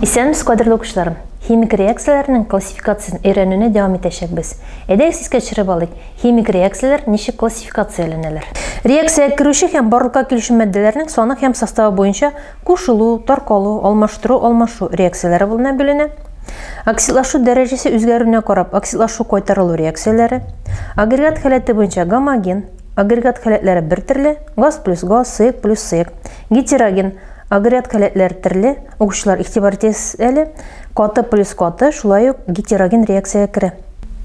Исәнмесез, кадерле укучыларым! Химик реакцияләрнең классификациясен өйрәнүне дәвам итәчәкбез. Әйдәгез искә төшереп алыйк. Химик реакцияләр ничек классификацияләнәләр? Реакциягә керүче һәм барлыкка килүче матдәләрнең саны һәм составы буенча кушылу, таркалу, алмаштыру, алмашу реакцияләре булына бүленә. Оксидлашу дәрәҗәсе үзгәрүенә карап оксидлашу-кайтарылу реакцияләре, агрегат халәте буенча гомоген, агрегат халәтләре бер төрле, газ плюс газ, сыек плюс сыек, гетероген, агрегат халәтләр төрле, укучылар игътибар итегез әле, каты плюс каты, шулай ук гетероген реакциягә керә.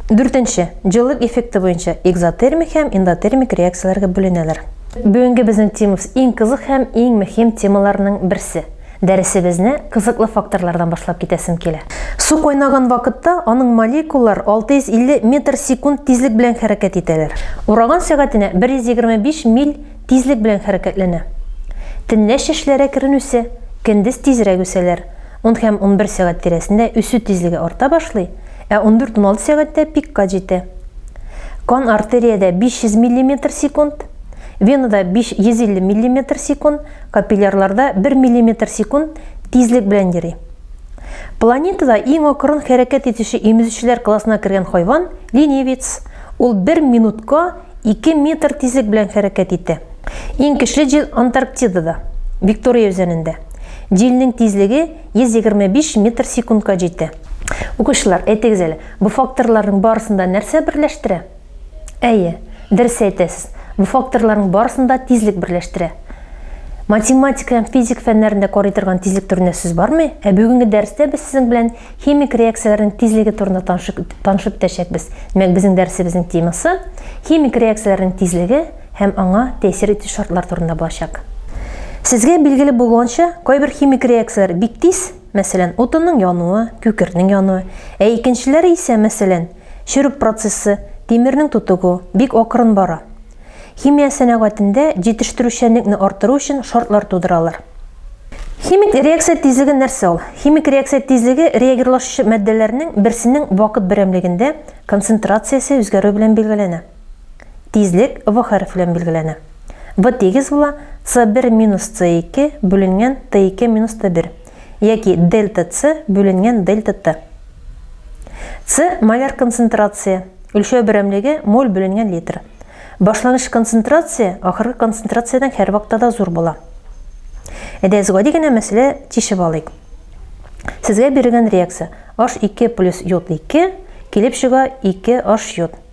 Дүртенче, җылылык эффекты буенча экзотермик һәм эндотермик реакцияләргә бүленәләр. Бүгенге безнең темабыз иң кызык һәм иң мөһим темаларның берсе. Дәресебезне кызыклы факторлардан башлап китәсем килә. Су кайнаган вакытта аның молекулалар 650 метр секунд тизлек белән хәрәкәт итәләр. Ураган сәгатенә 125 миль тизлек белән хәрәкәтләнә. Төнлә чәчләре әкрен үсә, көндез тизрәк үсәләр. Ун һәм унбер сәгать тирәсендә үсү тизлеге арта башлый, Ә 14-16 сәгатьтә пикка җитә. Кан артериядә 500 миллиметр секунд, венада 550 миллиметр секунд, капиллярларда 1 миллиметр секунд тизлек белән йөри. Планетада иң акрын хәрәкәт итүче имезүчеләр классына кергән хайван, ленивец. Ул бер минутка 2 метр тизлек белән хәрәкәт итә. Иң көчле җил Антарктидада, Виктория үзәнендә. Җилнең тизлеге 125 метр секундка җитә. Укучылар, әйтегез әле, бу факторларның барысын да нәрсә берләштерә? Әйе, дөрес әйтәсез. Бу факторларның барысын да тизлек берләштерә. Математика һәм физик фәннәрендә карый торган тизлек турында сүз бармы? Ә бүгенге дәрестә без сезнең белән химик реакцияләрнең тизлеге турында танышып, танышып төшәкбез. Димәк, безнең дәресебезнең темасы химик реакцияләрнең тизлеге һәм аңа тәэсир итү шартлар турында булачак. Сезгә билгеле булуынча, кайбер химик реакцияләр бик тиз, Мәсәлән, утынның януы, күкертнең януы, ә икенчеләре исә, мәсәлән, черү процессы, тимернең тутыгу, бик акрын бара. Химия сәнәгатендә җитештерүчәнлекне арттыру өчен шартлар тудыралар. Химик реакция тизлеге нәрсә ул? Химик реакция тизлеге реагирлашучы матдәләрнең берсенең вакыт берәмлегендә концентрациясе үзгәрү белән билгеләнә. Тизлек в хәреф белән билгеләнә. В тигез була c1 минус c2 бүленгән t2 минус t1 яки дельта c бүленгән дельта t. c маляр концентрация, үлчәү берәмлеге моль бүленгән литр. Башлангыч концентрация ахыргы концентрациядән һәрвакытта да зур була. Әйдә, гади генә мәсьәлә тишеп алыйк. Сезгә бирелгән реакция H2 плюс йод 2 килеп чыга 2 H йод.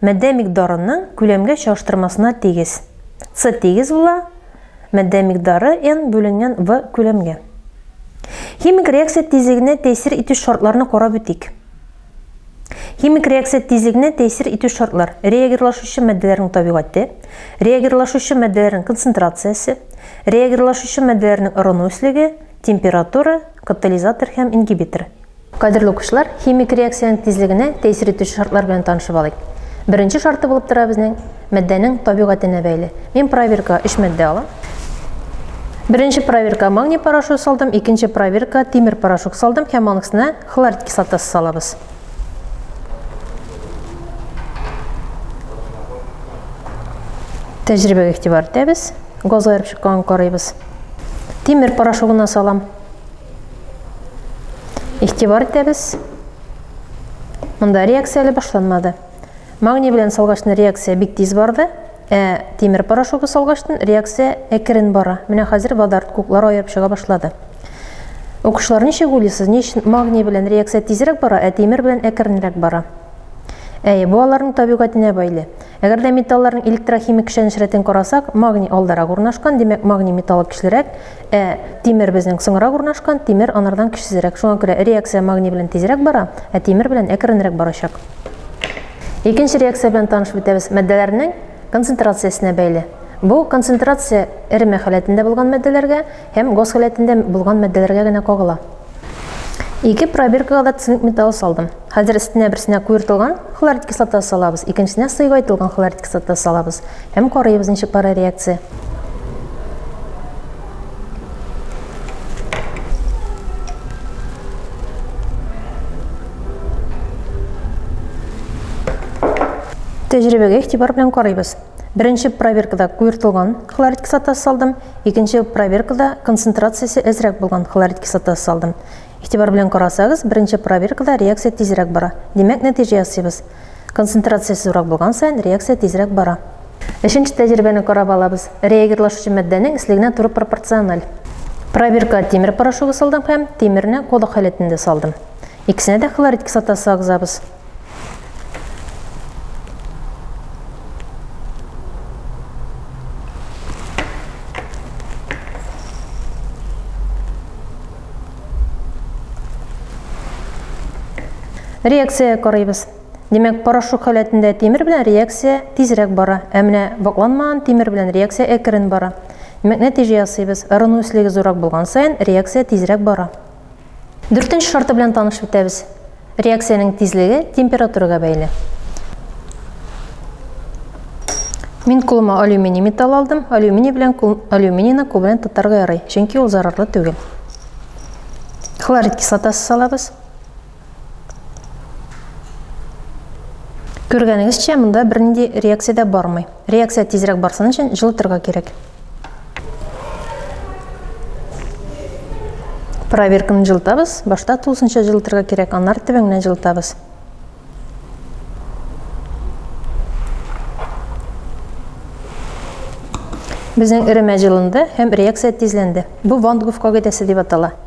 Матдә микъдарының күләмгә чагыштырмасына тигез. С тигез була матдә микъдары n бүленгән V күләмгә. Химик реакция тизлегенә тәэсир итү шартларны карап үтик. Химик реакция тизлегенә тәэсир итү шартлар, реагирлашучы матдәләрнең табигате, реагирлашучы матдәләрнең концентрациясе, реагирлашучы матдәләрнең ырыну өслеге, температура, катализатор һәм ингибитор. Кадерле укучылар, химик реакциянең тизлегенә тәэсир итүче шартлар белән танышып алыйк. Беренче шарты булып тора безнең матдәнең табигатенә бәйле. Мин проверкага өч матдә алам. Беренче проверкага магний порошогы салдым, икенче проверкага тимер порошок салдым һәм аның өстенә хлорид кислотасы салабыз. Тәҗрибәгә игътибар итәбез. Газга ярып чыкканын карыйбыз. Тимер порошогына салам. Игътибар итәбез. Монда реакция әле башланмады. Магний белән салгачны реакция бик тиз барды, ә тимер порошогы салгачтын реакция әкрен бара. Менә хәзер водород куклар аерып чыга башлады. Укучылар, ничек уйлыйсыз, ни өчен магний белән реакция тизрәк бара, ә тимер белән әкренрәк бара? Әйе, бу аларның табигатенә бәйле. Әгәр дә металларның электрохимик көчләнеш рәтен карасак, магний алдарак урнашкан, димәк, магний металлы көчлерәк, ә тимер безнең соңрак урнашкан, тимер анардан көчсезрәк. Шуңа күрә реакция магний белән тизрәк бара, ә тимер белән әкренрәк барачак. Икенче реакция белән танышып үтәбез, матдәләрнең концентрациясенә бәйле. Бу концентрация эреме халәтендә булган матдәләргә Һәм газ халәтендә булган матдәләргә генә кагыла. Ике пробиркага да цинк металлы салдым. Хәзер өстенә берсенә куертылган хлорид кислотасы салабыз, икенчесенә сыйгайтылган хлорид кислотасы салабыз һәм карыйбыз ничек бара реакция. Тәҗрибәгә игътибар белән карыйбыз. Беренче проверкада куертылган хлорид кислотасы салдым, Икенче проверкада концентрациясе әзрәк булган хлорид кислотасы салдым. Игътибар белән карасагыз, беренче проверкада реакция тизрәк бара. Димәк, нәтиҗә ясыйбыз. Концентрациясе зуррак булган саен реакция тизрәк бара. Өченче тәҗрибәне карап алабыз. Реагирлашучы матдәнең эслегенә туры пропорциональ. Проверка тимер порошогы салдым һәм тимерне колы халәтендә салдым. Икесенә дә хлорид кислотасы агызабыз. реакция карыйбыз Демәк, порошок халәтендә тимер белән реакция тизрәк бара, ә менә вакланмаган тимер белән реакция әкрен бара. Демәк, нәтиҗә ясыйбыз. Ырыну өслеге зурак булган саен реакция тизрәк бара. Дүртенче шарты белән танышып үтәбез. Реакциянең тизлеге температурага бәйле. Мин кулыма алюминий металл алдым. Алюминий белән алюминийны кул белән тотарга ярый, чөнки ул зарарлы түгел. Хлорид кислотасы салабыз. Күргәнегезчә, монда бернинди реакция дә бармый. Реакция тизрәк барсын өчен җылытырга кирәк. Проверканы җылытабыз. Башта тулысынча җылытырга кирәк, аннары төбеңнән җылытабыз. Безнең эремә җылынды һәм реакция тизләнде. Бу Ван Гуф кагыйдәсе дип атала.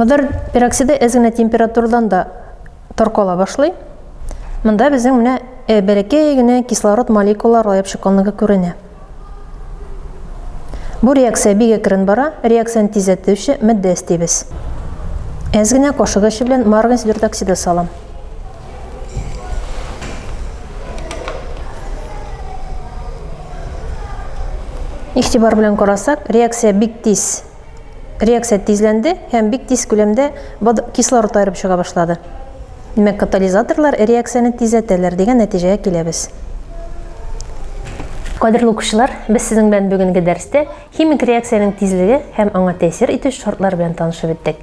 Мыдыр пероксиды әз генә температурадан да таркала башлый. Монда безнең менә э, бәләкәй генә кислород молекулалары лаеп чыкканлыгы күренә. Бу реакция бик әкрен бара, реакцияне тизләтүче матдә эстибез. Әз генә кашык эше белән марганец дүрт оксиды салам. Игътибар белән карасак, реакция бик тиз. Реакция тизләнде һәм бик тиз күләмдә кислород аерып чыга башлады. Димәк, катализаторлар реакцияне тизәтәләр дигән нәтиҗәгә киләбез. Кадерле укучылар, без сезнең белән бүгенге дәрестә химик реакциянең тизлеге һәм аңа тәэсир итү шартлары белән танышып үттек.